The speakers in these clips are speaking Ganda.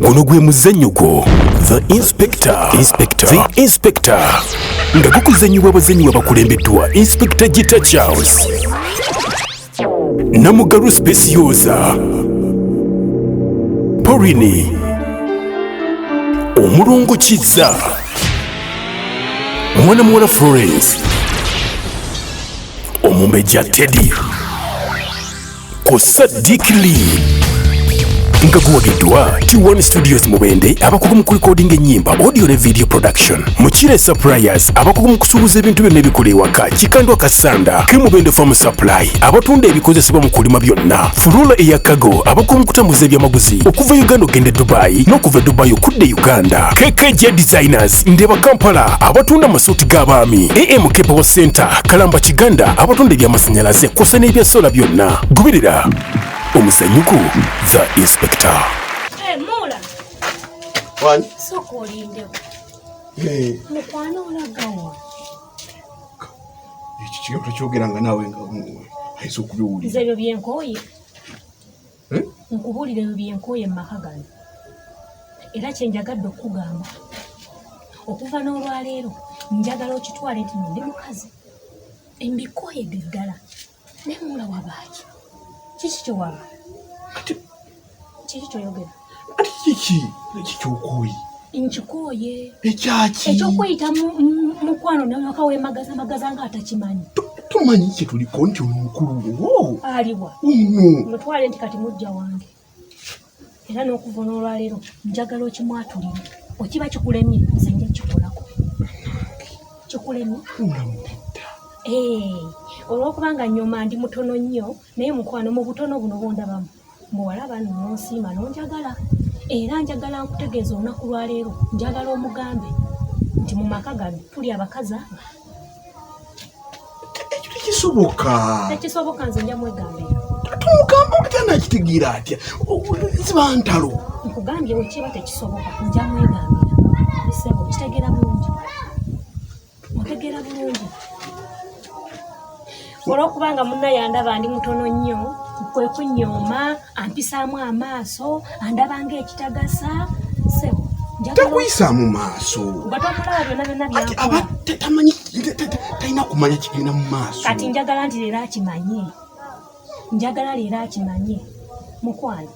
guno gwe muzannyo gwo the inspector inspector the inspector nga gukuzannyibwa abazannyi babakulembeddwa inspector gita charles namugalu specioza porini omulongo kizza mwana muwala florence omumbejja teddy ku Sadiq Lee nga guwagiddwa T1 Studios Mubende abakugu mu kulikodinga ennyimba audio ne video production Mukire Suppliers abakugu mu kusuubuza ebintu byonna ebikola ewaka Kikandwa Kasanda ke Mubende Farm Supply abatunda ebikozesebwa mu kulima byonna Furula eya Kago abakugu mu kutambuza ebyamaguzi okuva Uganda okugenda e Dubai n'okuva e Dubai okudda e Uganda KKJ Designers Market, Ndeba Kampala abatunda amasuuti g'abaami, AM Kepewo Center, Kalamba Kiganda abatunda eby'amasannyalaze kw'ossa n'ebya sola byonna. Goberera omuzannyo gwo The Inspector. Hey, eh, Mula. Wani? Soko olindewo. Hey. Eh. Mukwano olagawa. Ekyo kigambo tokyogera nga naawe nga ayinza okubiwulira. Nze ebyo byenkooye. hmm? nkubuulira ebyo byenkooye mu maka gano era kyenjagadde okukugamba okuva n'olwaleero njagala okitwale nti nondi mukazi embikooye ge ddala nemuula wabaaki kiki kyewaba kiki kyoyogera Ati kiki kikyokoyi nkikooye ekyaki ekyokuyita mukwano naka wemagaza magaza nga atakimanyi tumanyi kye tuliko nti ono mukulu wo aliwa uno mutwale nti kati mujja wange era n'okuva n'olwaleero njagala okimwatulire okiba kikulemye nze nja kikolako kikulemye olwokubanga nyoma ndi mutono nnyo naye mukwano mu butono buno bondabamu muwala bano nonsiima nonjagala era njagala nkutegeeza olunaku lwaleero njagala omugambe nti mu maka gano tuli abakazi aba kisoboka tekisoboka nze nja mwegambira tumugambo kutana kitigira atya ziba ntalo nkugambye wekiba tekisoboka nja mwegambira sebo kitegera bulungi ntegera bulungi olwokuba nga munna yandaba ndi mutono nnyo kwe kunyooma ampisaamu amaaso andaba nga ekitagasa sebo takuyisa mu maaso aba tamanyi talina kumanya kigenda mu maaso kati njagala nti leero akimanye njagala leero akimanye mukwano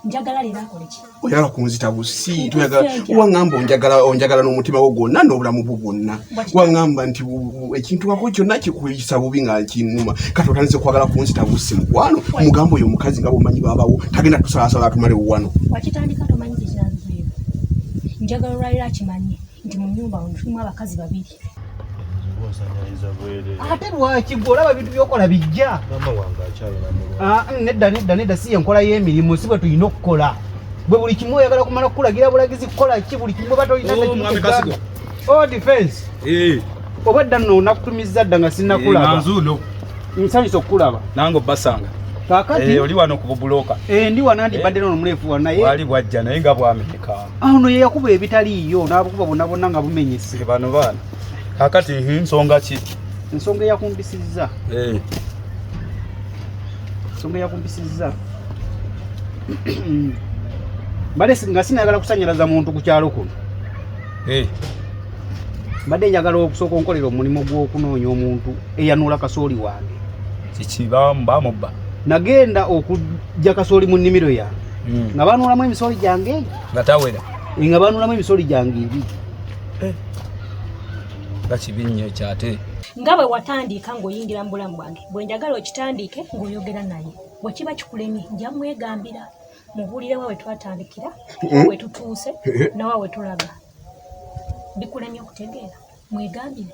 njagala leero akole ki oyagala kunzita busi toyagala wangamba onjagala onjagala n'omutima gwo gwonna n'obulamu bwo bwonna wangamba nti ekintu wako kyonna kikuyisa bubi nga kinnuma kati otandise okwagala kunzita busi mukwano omugamba oyo omukazi nga bwomanyi babawo tagenda tusalaasala atumalewo wano wakitandika tomanyi kyekiranzuyo njagala olwaliro akimanye nti mu nyumba ono tulimu abakazi babiri ate lwaki gwe olaba ebintu byokola bijja ah, nedda nedda nedda si yenkola y'emirimu si bwe tulina okukola bwe buli kimu oyagala kumala kukulagira bulagizi kukola ki buli kimu oba tolina oh, oh, defense eh. oba edda nno nakutumizza dda nga sinakulaba eh, nsanyusa okukulaba nange obbasanga kakati eh, oli wano ku bubuloka ndi wanandibadde nono muleefu wanaye wali bwajja naye nga bwameka awo no yeyakuba ebitaliiyo n'abukuba bonna bonna nga bumenyese bano baana kakati nsonga ki ensonga eyakumbisizza eh. ensonga eyakumbisizza mbadde nga sinayagala kusanyalaza muntu ku kyalo kuno eh. mbadde njagala okusooka onkolera omulimu gw'okunoonya omuntu eyanuula kasooli wange kiki bamubba nagenda okujja kasooli mu nnimiro yange hmm. nga banulamu emisolo gyange egyo nga tawera eh, nga banulamu emisolo gyange ebi eh. nga kibi nnyo ekyate nga bwe watandiika ng'oyingira mu bulamu bwange bwe njagala okitandiike ng'oyogera naye bwe kiba kikulemye nja mwegambira mubuulire wa we twatandikira eh? we tutuuse nawa we tulaga bikulemye okutegeera mwegambire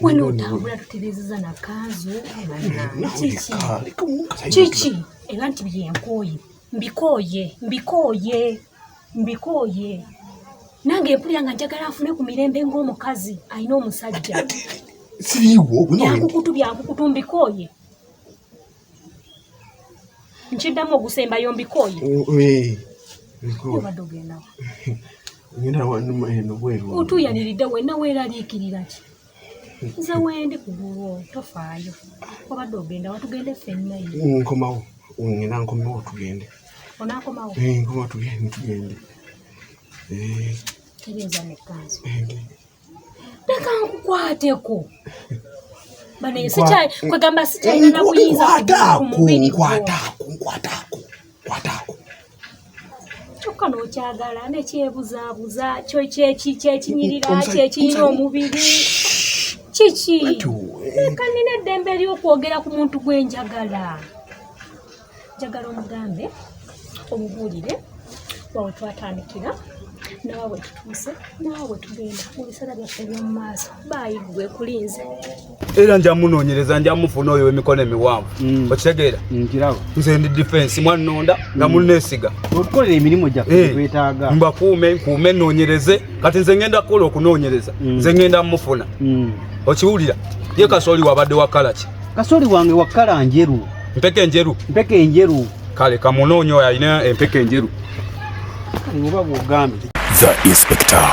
wena otambula tutereezeza na kanzu kiki era nti byenkooye mbikooye mbikooye mbikooye nange empulira nga njagala afune ku mirembe ng'omukazi alina omusajja byakukutu byakukutu mbikooye nkiddamu ogusembayo mbikooye otuuyaniridde wenna weeraliikirira ki nze wendi ku lulwo tofaayo obadde ogenda watugende ffenna nkomawo ngenda nkomewo tugende onakomawo eh, nkomawo tugende tugende eh. tereeza nekkanzi leka nkukwateko kwegamba sikyalina buyinza kyokka nokyagala nekyebuzaabuza kyo kyekinyirira kyekinyira omubiri kiki leka nina eddembe ery'okwogera ku muntu gwenjagala njagala omugambe omubuulire wawe twatandikira nawe wetutuuse nawe wetugenda mu biseera byaffe eby'omu maaso baayi gwe kulinze era nja munoonyereza nja mufuna oyo w'emikono emiwanvu mm. okitegeera mm, nze ndi difensi mwannonda nga mm. munneesiga okukola emirimu gyaffe eh, twetaaga mbakuume nkuume nnoonyereze kati nze ngenda kukola okunoonyereza nze ngenda mufuna okiwulira ye kasooli wabadde wakalaki kasooli wange wakala njeru Mpeke enjeru. Mpeke enjeru. Kale kamunoonye oyo alina empeke enjeru. Kale oba bw'ogambye. The Inspector.